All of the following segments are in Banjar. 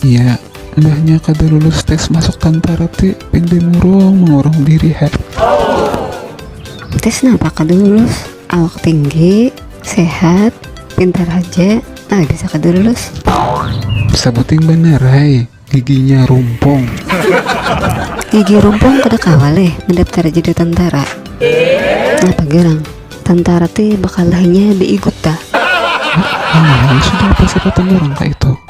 Iya, mbahnya kada lulus tes masuk tantara ti pindai murung mengurung diri ha. Tes napa kada lulus, awak tinggi, sehat, pintar haja ai bisa kada lulus. Sabuting banar hai, giginya rumpung. Gigi rumpung kada kawa leh mandaptar jadi tantara. Napa garang, tantara ti bakalahinya diigut ta. Nah, sudah apa serapan urang kaitu.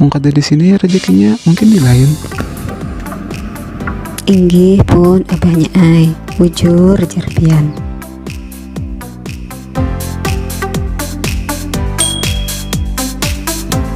Wong kada di sini rezekinya mungkin di lain. Inggih pun abahnya ai, bujur jar pian.